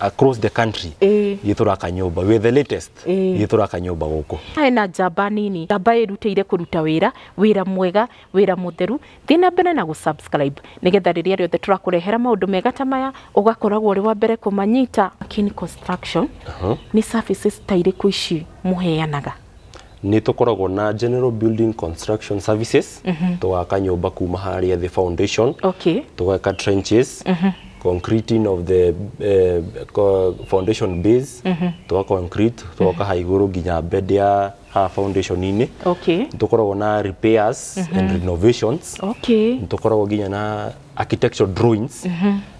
across the country Ĩĩ. ithuĩ tũraka nyũmba we the latest Ĩĩ. ithuĩ tũraka nyũmba gũkũ harĩ na njamba nini njamba ĩrutĩire kũruta wĩra wĩra mwega wĩra mũtheru thiĩ na mbere na gũsubscribe nĩgetha rĩrĩa rĩothe tũrakũrehera maũndũ mega ta maya ũgakoragwo ũrĩ wa mbere kũmanyita Kin Construction nĩ services ta irĩkũ ici mũheanaga nĩ tũkoragwo na general building construction services tũgaka nyũmba kuma harĩa the foundation okay tũgaka trenches concreting of the eh, co- foundation base tũga concrete tũgoka ha igũrũ nginya bed ya ha foundation-inĩ okay tũkoragwo na repairs and renovations okay tũkoragwo nginya na architectural drawings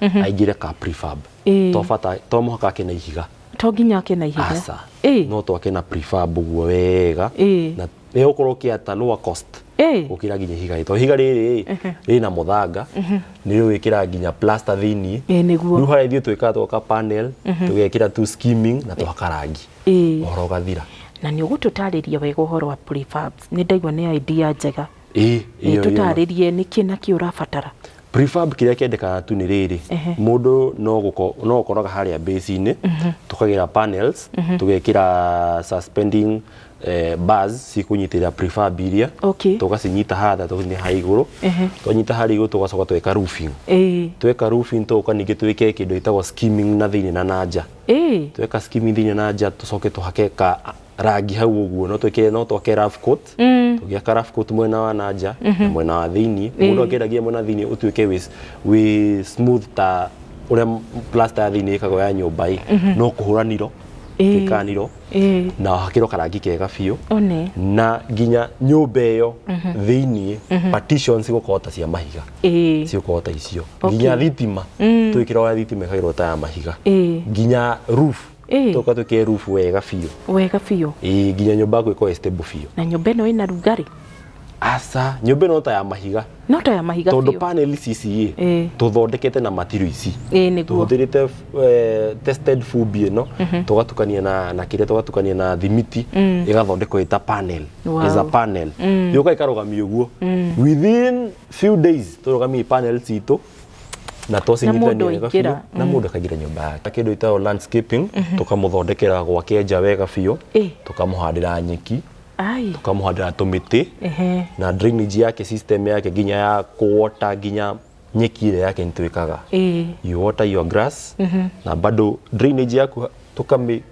Mhm. aingĩre ka prefab Ĩĩ. to bata to mũhaka ake na ihiga to nginya ake na ihiga aca Ĩĩ. no twake na prefab ũguo wega Ĩĩ. na nĩ gũkorwo kĩ at a lower cost Ĩĩ. gũkĩra nginya ihiga rĩtwa ihiga rĩrĩ Ehe. rĩna mũthanga nĩ rĩwĩkĩra nginya plaster thĩinĩ Ĩĩ, nĩguo. rĩu harĩa ithuĩ twĩkaga twaka panel tũgekĩra tu skimming na twaka rangi Ĩĩ. ũhoro ũgathira na nĩ ũgũtũtarĩria wega ũhoro wa prefabs nĩ ndaigua nĩ idea njega Ĩĩ, ĩyo, ĩyo. ĩtũtarĩrie nĩ kĩ na kĩ ũrabatara prefab kĩrĩa kendekaga tu nĩ rĩrĩ Ehe. mũndũ no gũko- no ũkoraga harĩa base-inĩ tũkagĩra panels tũgekĩra suspending eh, bars cikũnyitĩrĩra prefab iria Okay. tũgacinyita hatha tũgathiĩ ha igũrũ Ehe. twanyita harĩa igũrũ tũgacoka tweka roofing Ĩĩ. tweka roofing tũgoka ningĩ twĩke kĩndũ gĩtagwo skimming na thĩinĩ na na nja Ĩĩ. tweka skimming thĩinĩ na nja tũcoke tũhake ka rangi hau ũguo no twĩkĩre no twake rough coat Mm. tũgĩaka rough coat mwena wa na nja na mwena wa thĩinĩ mũndũ akĩendagia mwena wa thĩinĩ ũtuĩke wĩ wĩ smooth ta ũrĩa m- plaster ya thĩinĩ ĩkagwo ya nyũmba ĩ no kũhũra niro Ĩĩ. twĩkaga niro Ĩĩ. na hakĩrwo karangi kega biũ One. na nginya nyũmba ĩyo thĩinĩ partitions igũkorwo ta cia mahiga Ĩĩ. cigũkorwo ta icio Okay. nginya thitima twĩkĩra ũrĩa thitima ĩkagĩrwo ta ya mahiga Ĩĩ. nginya roof Ĩĩ. tũka twĩke rubu wega biũ wega biũ Ĩĩ, nginya nyũmba yaku ĩkorwo ĩ stable biũ na nyũmba ĩno ĩna rugarĩ aca nyũmba ĩno ta ya mahiga no ta ya mahiga tondũ biũ panel ici ici Ĩĩ. ĩ tũthondekete na matiro ici ĩĩ nĩguo tũhũthĩrĩte eh, tested fubi ĩno tũgatukania na na kĩrĩa tũgatukania na thimiti ĩgathondekwo ĩta panel Wow. is a panel yũka ĩkarũgamio ũguo within few days tũrũgamia panel citũ na twacindithania wega biũ na mũndũ akaingĩra nyũmba yake kĩndũ itao landscaping tũkamũthondekera gwake nja wega biũ tũkamũhandĩra nyeki tũkamũhandĩra tũmĩtĩ na drainage yake system yake nginya ya kũwota nginya nyeki ĩrĩa yake nĩtwĩkaga you water your grass na bado drainage yaku tũkamĩ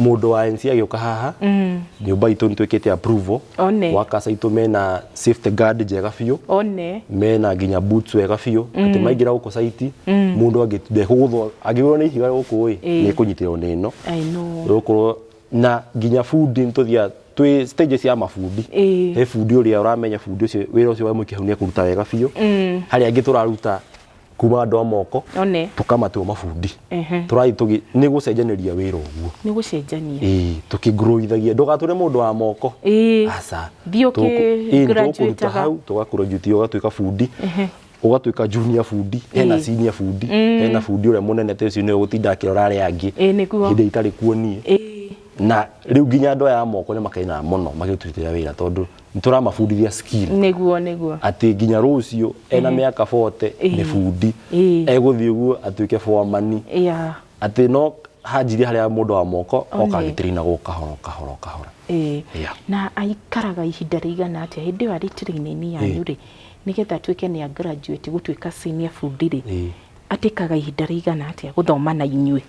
mũndũ wa NC agĩũka haha nyũmba itũ nĩ twĩkĩte approval One. workers aitũ mena safety guard njega biũ one mena nginya boots wega biũ atĩ maingĩra gũkũ site mũndũ angĩ- ndekũgũthwo angĩgũrwo nĩ ihiga gũkũ ĩ Ĩĩ. nĩ kũnyitĩrwo nĩ ĩno I know. gũkorwo na nginya bundi nĩ tũthiaga twĩ stage cia mabundi Ĩĩ. he bundi ũrĩa ũramenya bundi ũcio wĩra ũcio wamwĩkĩhau nĩ ekũruta wega biũ harĩa angĩ tũraruta kuma andå a moko one tũkamatua mabundi Ehe. tũrathiĩ tũgĩ nĩ gũcenjanĩria wĩra ũguo nĩ gũcenjania Ĩĩ, tũkĩgrowithagia ndũgatũre mũndũ wa moko Ĩĩ. aca Thiĩ ũkĩ- Tũgũkũ- ĩĩ, nĩtũgũkũruta graduate-aga. hau tũgakũrojuti ũgatuĩka bundi ũgatuĩka junior bundi hena Ĩĩ. senior bundi hena bundi ũrĩa mũnene ta ũcio nĩwe gũtinda akĩrora arĩa angĩ Ĩĩ, nĩguo. hĩndĩ itarĩ kuo niĩ Ĩĩ. na rĩu nginya andå aya a moko nä makenaga må no magä tå rutĩra wä ra tondå nituramabundithia skill niguo niguo atä nginya rå cio ena mä aka bote Ĩĩ. nä bundi Ĩĩ. egå thiä å guo atuä ke boamani ya atä no hanjirie harä a må ndå wa moko Only. oka agä tä rä gå kahoro kahoro kahoro ĩĩ. Yeah. na aikaraga ihinda rĩigana atĩa hĩndĩ ĩyo arĩ training yanyu rĩ nĩgetha atuĩke nĩ a graduate gũtuĩka senior bundi rĩ Ĩĩ. atĩkaga ihinda rĩigana atĩa gũthoma na inyuĩ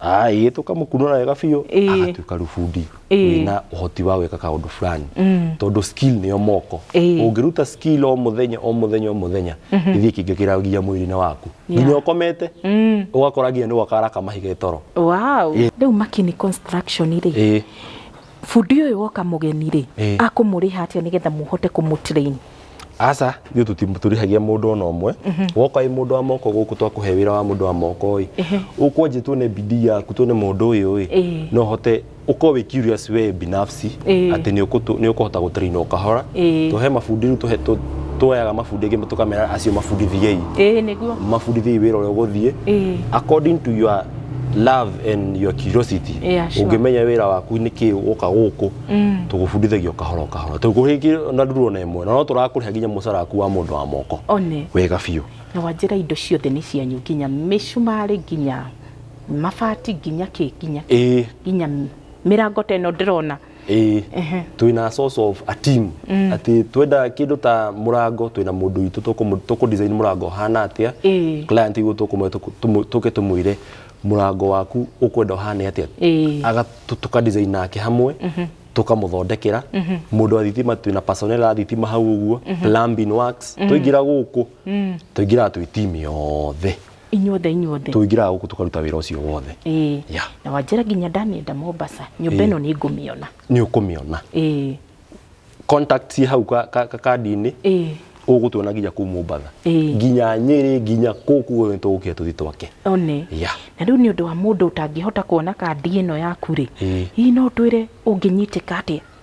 Ai, tũkamũkunũra wega biũ Ĩĩ. agatuĩka rĩu bundi Ĩĩ. wĩna ũhoti wa gwĩka kaũndũ fulani tondũ skill nĩyo moko Ĩĩ. ũngĩruta skill o mũthenya o mũthenya o mũthenya gĩthiĩ kĩngĩkĩragia mwĩrĩ-inĩ waku Yeah. nginya ũkomete ũgakora nginya nĩ gwaka araka mahiga toro Wow. Rĩu Makini Construction rĩ, Ĩĩ. Bundi ũyũ woka mũgeni rĩ, Eh. akũmũrĩha atĩa nĩgetha mũhote kũmũtrain? aca ithuĩ tũti- tũrĩhagia mũndũ ona ũmwe woka ĩ mũndũ wa moko gũkũ twakũhe wĩra wa mũndũ wa moko ĩ ũkwenje tuone bidii yaku tuone mũndũ ũyũ ĩ Ĩĩ. no hote ũkorwo wĩ curious we binafsi Ĩĩ. atĩ nĩ ũkũtũ- nĩ ũkũhota gũtraina o kahora Ĩĩ. tũhe mabundi rĩu tũhe- tũ- tuoyaga mabundi angĩ tũkamera acio mabundithiei Ĩĩ nĩguo. mabundithiei wĩra ũrĩa ũgũthiĩ Ĩĩ. according to your love and your curiosity Yeah, sure. ũngĩmenya wĩra waku nĩ kĩ woka gũkũ tũgũbundithagia o kahora o kahora tũkũhĩngĩ na nduru ona ĩmwe na no tũrakũrĩha nginya mũcara waku wa mũndũ wa moko one wega biũ na wanjĩra indo ciothe nĩ cianyu nginya mĩcumarĩ nginya mabati nginya kĩ nginya kĩ, ĩĩ nginya mĩrango ta ĩno ndĩrona ĩĩ Ehe. twĩna a source of a team atĩ twenda kĩndũ ta mũrango twĩna mũndũ witũ tũkũmũ- tũkũdesign mũrango ũhana atĩa Ĩĩ. client igu tũkũmwe tũkũ- tũmũ- tũke tũmwĩre mũrango waku ũkwenda ũhane atĩa Ĩĩ. Aga- tũ- tũkadesign nake hamwe tũkamũthondekera mũndũ wa thitima twĩna personnel a thitima hau ũguo plumbing works twaingĩra gũkũ tũingĩraga twĩ team yothe inyuothe inyuothe tũingĩraga gũkũ tũkaruta wĩra ũcio wothe ĩĩ Yeah. na wanjĩra nginya ndamĩenda mombasa nyũmba Ĩĩ. ĩno nĩ ngũmĩona nĩ ũkũmĩona ĩĩ contact ciĩ hau ka- ka- ka- kandi-inĩ ĩĩ ũgũtuona nginya kuu mũmbatha Ĩĩ. nginya nyĩrĩ nginya kũkũ guothe tũgũkĩra tũthiĩ twake one Yeah. na rĩu nĩ ũndũ wa mũndũ ũtangĩhota kuona kandi ĩno yaku rĩ Ĩĩ. hihi no twĩre ũngĩnyitĩka atĩa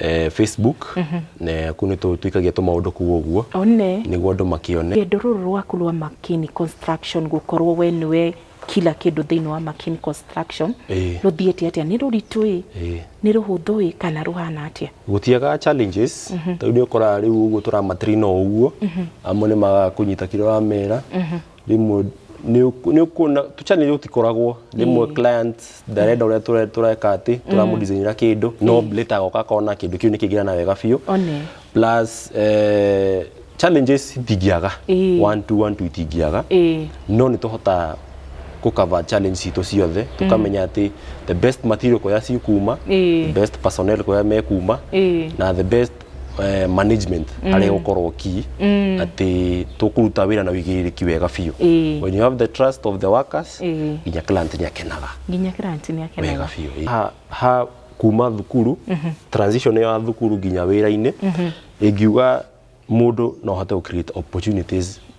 eh, facebook na kuu nĩ tũ- tũikagia tũmaũndũ kuu ũguo one nĩguo andũ makĩone rwendo rũrũ rwaku rwa makini construction gũkorwo we nĩwe kila kĩndũ thĩinĩ wa makini construction Ĩĩ. rũthiĩte atĩa nĩ rũritũ ĩ Ĩĩ. nĩ rũhũthũ ĩ kana rũhana atĩa gũtiaga challenges tondũ nĩ ũkoraga rĩu ũguo tũramatrina ũguo amwe nĩ makũnyita kĩrĩa wamera rĩmwe nĩ ũk- nĩ ũkuona tũchanel tũtikoragwo rĩmwe client ndarenda ũrĩa tũre- tũreka atĩ tũramũdizainĩra kĩndũ no later agoka akona kĩndũ kĩu nĩ kĩngĩrana wega biũ one plus eh, challenges itingĩaga Ĩĩ. one two one two itingĩaga ĩĩ no nĩ tũhotaga gũkava challenge citũ ciothe tũkamenya atĩ the best material kũrĩa cikuma Ĩĩ. the best personnel kũrĩa mekuma Ĩĩ. na the best eh, management arĩa gũkorwo ki atĩ tũkũruta wĩra na wĩigĩrĩrĩki wega biũ Ĩĩ. when you have the trust of the workers Ĩĩ. nginya client nĩ akenaga nginya kĩranti nĩ wega akenaga biũ ha, ha kuma thukuru transition ya thukuru nginya wĩra-inĩ ingiuga mũndũ no ahote gũ create opportunities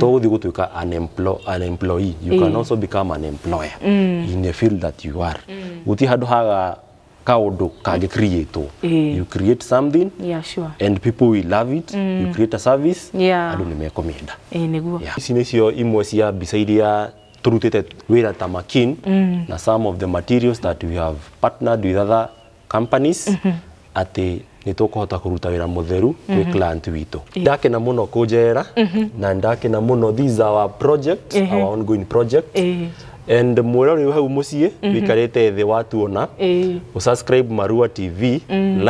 to gũthiĩ gũtuĩka an emplo- an employee you can also become an employer in the field that you are gũtirĩ handũ haga kaũndũ kangĩ creatwo Ĩĩ. you create something yeah sure and people will love it you create a service Yeah. andũ nĩ mekũmĩenda eh niguo Yeah. ici nĩcio imwe cia mbica iria tũrutĩte wĩra ta makin na some of the materials that we have partnered with other companies atĩ nĩ tũkũhota kũruta wĩra mũtheru kwĩ client witũ ndakena mũno kũnjera na ndakena mũno these are our project our ongoing project Ĩĩ. and mwĩra ũrĩ hau mũciĩ wĩikarĩte thĩ watuona Ĩĩ. usubscribe marua tv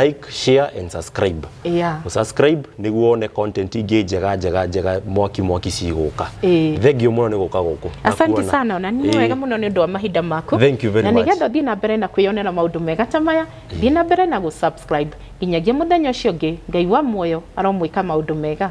like share and subscribe Yeah. subscribe niguo one content ingĩ njega njega njega mwaki mwaki cigũka Ĩĩ. thengio mũno nĩ gũka gũkũ Na asante kuona. sana na nĩ Ĩĩ. wega mũno nĩ ũndũ wa mahinda maku Thank you very na much. nĩgetha thiĩ na mbere na kwĩyonera maũndũ mega ta maya thiĩ na mbere na gũsubscribe nginyagia mũthenya ũcio ũngĩ ngai wa muoyo aromwĩka maũndũ mega